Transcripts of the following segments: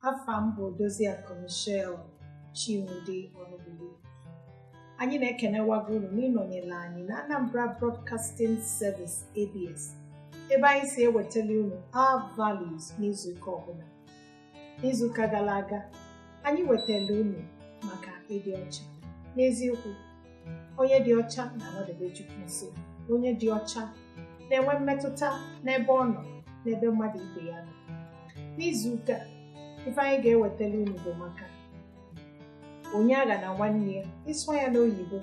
afa m bụ Odoziakụ Michelle Chinwude Ọnụbụli anyị na-ekenewago unu n'ịnọnyere anyị na Anambra Broadcasting Service ABS ebe anyị si ewetalụ unu our values n'izuụka ọbụla n'izuụka gara aga anyị wetara unu maka ịdị ọcha n'eziokwu onye dị ọcha na-anọdebe Chukwu nso onye dị ọcha na-enwe mmetụta n'ebe ọ nọ n'ebe mmadụ ibe ya nọ n'izuụka a ife anyị ga-ewetara unu bụ maka onye aghana nwanne ya ị sụọ ya n'oyibo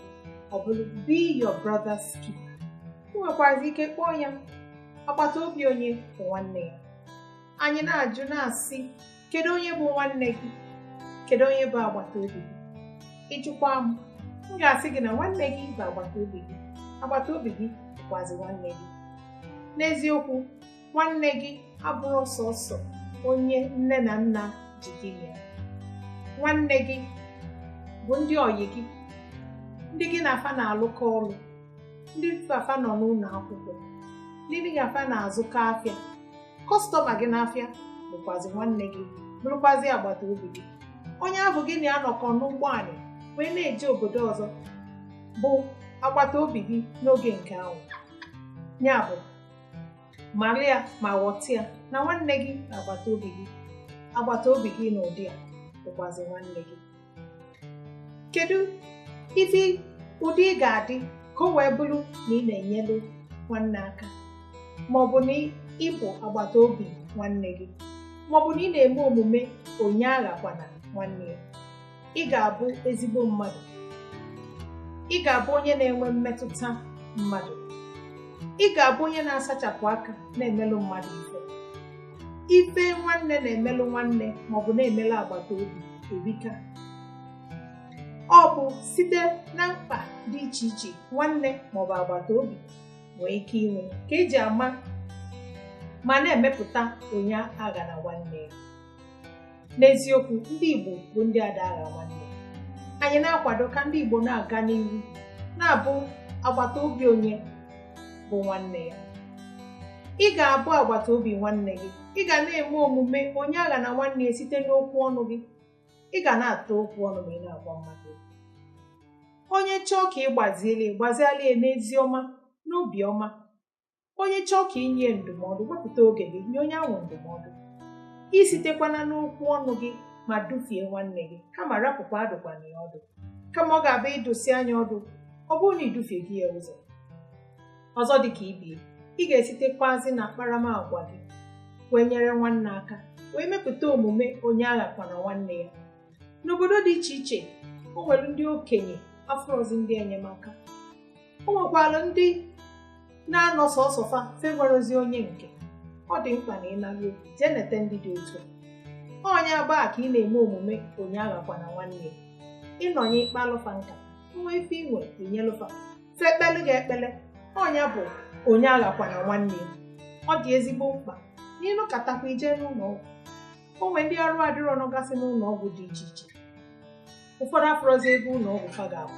ọ bụrụ be your brother's keeper ị nwekwazi ike kpọọ ya agbata obi onye bụ nwanne ya anyị na-ajụ na-asị kedu onye bụ nwanne gị kedu onye bụ agbata obi gị ị jụkwa m m ga-asị gị na nwanne gị bụ agbata obi gị agbata obi gị bụkwazi nwanne gị n'eziokwu nwanne gị abụrọ sọsọ onye nne na nna ji gị na ya nwanne gị bụ ndị ọyị gị ndị gị na fa na-alụkọ ọlụ ndị gị na fa nọ n'ụnọ akwụkwọ ndị gị na fa na-azụkọ afịa kọstọma gị n'afịa bụkwazi nwanne gị bụrụkwazi agbata obi gị onye ahụ gị na ya nọkọ n'ụgbọ anị wee na-eje obodo ọzọ bụ agbata obi gị n'oge nke ahụ ya bụ mara ya ma ghọta ya na nwanne gị na agbata obi gị agbata obi gị n'ụdị a bụkwazi nwanne gị kedu ife ụdị ị ga-adị ka o wee bụrụ na ị na-enyelu nwanne aka ma ọ bụ na ị bụ agbata obi nwanne gị ma ọ bụ na ị na-eme omume onye aghakwana nwanne ya ị ga-abụ ezigbo mmadụ ị ga-abụ onye na-enwe mmetụta mmadụ ị ga-abụ onye na-asachapụ aka na-emelụ mmadụ ife ife nwanne na-emelụ nwanne maọbụ na-emelụ agbata obi erika ọ bụ site na mkpa dị iche iche nwanne maọbụ agbata obi nwee ike inwe ka e ji ama ma na-emepụta onye aghana nwanne ya n'eziokwu ndị Igbo bụ ndị ada agha nwanne anyị na-akwado ka ndị Igbo na-aga n'ihu na-abụ agbata obi onye bụ nwanne ya ị ga-abụ agbata obi nwanne gị ị ga na-eme omume onye aghana nwanne ya site n'okwu ọnụ gị ị ga na-ata okwu ọnụ ma ị na-agwa mmadụ okwu onye chọọ ka ị gbazielu ya gbazielu ya n'ezi ọma n'obi ọma onye chọọ ka i nye ndụmọdụ wepụta oge gị nye onye ahụ ndụmọdụ isitekwana n'okwu ọnụ gị ma dufie nwanne gị kama rapụkwa adụkwana ya ọdụ kama ọ ga-abụ ị dụsịa nya ọdụ ọ bụrụ na i dufiego ya ụzọ ọzọ dị ka ibie ị ga-esitekwazi na akparamagwa gị wee nyere nwanne aka wee mepụta omume onye aghakwana nwanne ya n'obodo dị iche iche o nwere ndị okenye afụrọzi ndị enyemaka o nwekwara ndị na-anọ sọsọ fa fa enwerozi onye nke ọ dị mkpa na ịnaruo jee nete ndị dị otu a onye agbaa ka ị na-eme omume onye aghakwana nwanne ya ị nọnye ị kpalụ fa nka nwa ife i nwe i nyelụ fa fa ekpelu gị ekpele ọ nya bụ onye aghakwana nwanne ya ọ dị ezigbo mkpa na ị nọkatakwa i jee n'ụlọ ọgwụ o nwee ndị arụ adịrọ nọgasị n'ụlọ ọgwụ dị iche iche ụfọdụ afụrọzi ego ụlọ ọgwụ fa ga-akwụ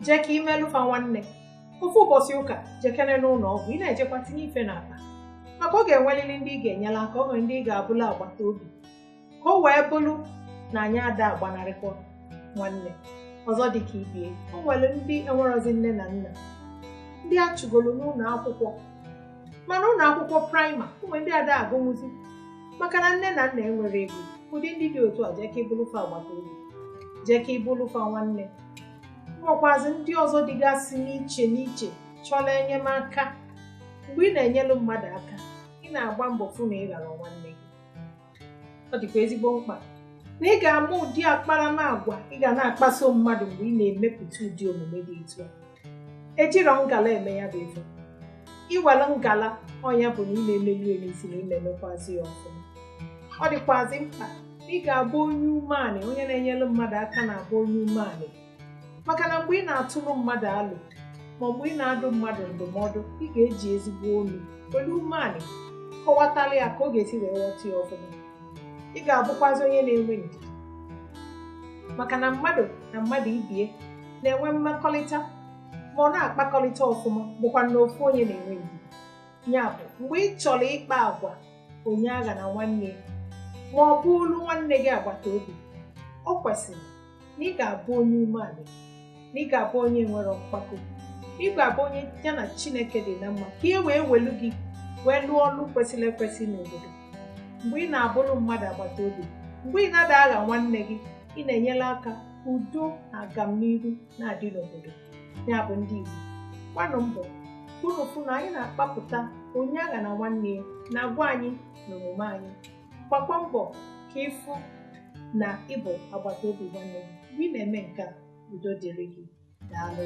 jee ka i melụ fa nwanne ofu ụbọchị ụka jekene n'ụlọ ọgwụ ị na-ejekwa tinye ife n'akpa maka ọ ga-enwelili ndị ị ga-enyelu aka o nwere ndị ị ga-abụlụ agbata obi ka o wee bụrụ na anyị ada agbanarịkwa nwanne ọzọ dị ka ibie o nwere ndị enwerozi nne na nna ndị a chụgoro n'ụlọ akwụkwọ ma na ụlọ akwụkwọ praịmarị o nwee ndị ada agụnwuzi maka na nne na nna enwero ego ụdị ndị dị otu a jee ka ị bụlụ fa agbata obi jee ka ị bụlụ fa nwanne nwekwazi ndị ọzọ dịgasị n'iche n'iche chọrọ enyemaka mgbe ị na-enyelu mmadụ aka ị na-agba mbọ fụ na ị gharọ nwanne ọ dịkwa ezigbo mkpa na ị ga-ama ụdị akparamagwa ị ga na-akpaso mmadụ mgbe ị na-emepụta ụdị omume dị etu a ejirọ ngala eme ya bụ ife i were ngala ọ nya bụ na ị na-emeli emezi na ị na-emekwazi ya ọfụma ọ dịkwazi mkpa ị ga-abụ onye umeanị onye na-enyere mmadụ aka na-abụ onye umeanị maka na mgbe ị na-atụrụ mmadụ alo ma mgbe ị na-adụ mmadụ ndụmọdụ ị ga-eji ezigbo olu were umeanị kọwatara ya ka ọ ga-esi wee ghọta ya ọfụma ị ga-abụkwazi onye na-enwe ndidi maka na mmadụ na mmadụ ibie na-enwe mmekọrịta ma ọ na-akpakọrịta ọfụma bụkwa na ofu onye na-enwe ndidi ya bụ mgbe ị chọrọ ịkpa agwa onye aghana nwanne ma ọ bụ bụlụ nwanne gị agbata obi ọ kwesịrị na ị ga-abụ onye umeanị na ị ga-abụ onye enwero mpako ị ga-abụ onye ya na chineke dị na mma ka e wee welu gị wee lụọ ọlụ kwesịrị ekwesị n'obodo mgbe ị na-abụrụ mmadụ agbata obi mgbe ị na-ada agha nwanne gị ị na-enyere aka udo na agamniru na-adị n'obodo ya bụ ndị Igbo gbanụ mbọ unu fụ na anyị na-akpapụta onye aghana nwanne ya na agwa anyị na omume anyị gbakwa mbọ ka ị fụ na ị bụ agbata obi nwanne gị mgbe ị na-eme nke a udo dịrị gị daalụ